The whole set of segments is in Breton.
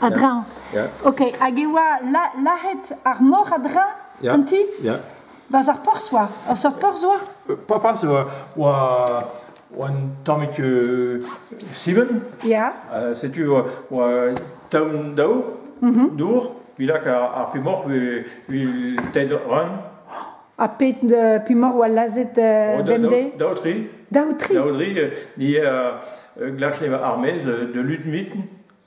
A-dreñv. Ok, hag e oa lazhet ar mor a-dreñv an ti? Ya. Barzh ar porzh oa, ur seurt porzh oa? Euh, pas porzh, oa, oa, oa un tammig euh, Siven. Ya. Uh, setu oa, oa taoù daour, mhm. dour, bilak ar, ar pimoc'h vil ted ran. Ha pet uh, pimoc'h oa lazhet uh, bemdez? Daotri. Daotri? Daotri, ni a glachle armez de Ludmitten.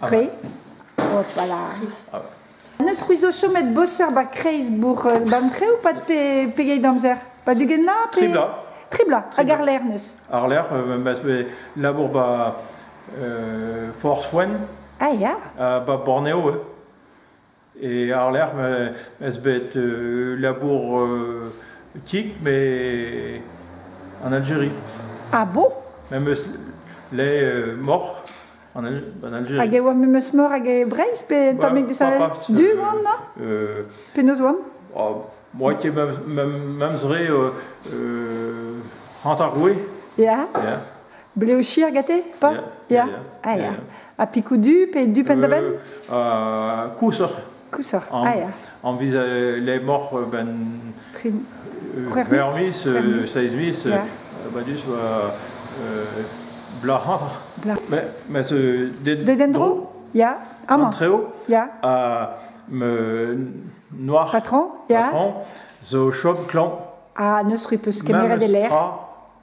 Tre. voilà. N'eus c'hwi zo chomet boser ba kreiz bourg euh, Bamtre ou pas pe pegeit amzer Pas dugen la pe... Tribla. Tribla, hag Arler neus. Arler, euh, bah, labour ba euh, Force Wen. Ah ya. ba Borneo, ouais. E àr-lerc'h m'eus bet labour tik met en Aljeri. Ah bon Me'm eus laet moc'h en Aljeri. Hag e oa memes moc'h hag e Breizh pe tammig desavet du oan na? Penaos oan? Moi ket memes re hanter goue. Ya? Ya. Blev chier gete, pa? Ya, ya, ya. Ha pikoù du pe du penn-da-benn? Euh, kousoc'h. Kousoc'h, ah ya. Enviz les morts ben... Vermis, saizmis, badus blac'har. Mais, mais ce... Dedendro Ya. Aman. Treo. Ya. me noir. Patron. Ya. Patron zo chom clan. Ah, neus rue peus kemeret e lec'h.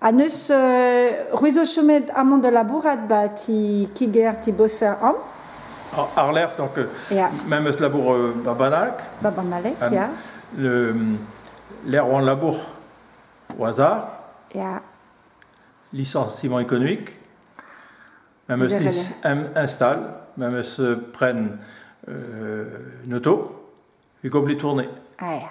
Ha neus c'hwi zo chomet amañ da labourat ba ti kiger ti boser an Arlec'h, donc yeah. même eus labour euh, ba Banalc. Ba Banalec, um, yeah. Le, L'ère ou en labour au hasard. Yeah. Licenciement économique. Même eus lis install, même eus euh, pren euh, noto, Hugo Bli tourné. Ah yeah.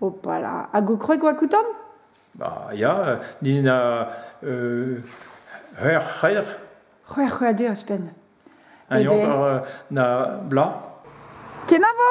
Opala. Hag ho kwreg oa koutant? Ba, ya, din a... euh, c'hwec'h c'hwec'h. C'hwec'h c'hwec'hadur ouzhpenn. Un Eh ben. eur euh, na bla. Kenavo!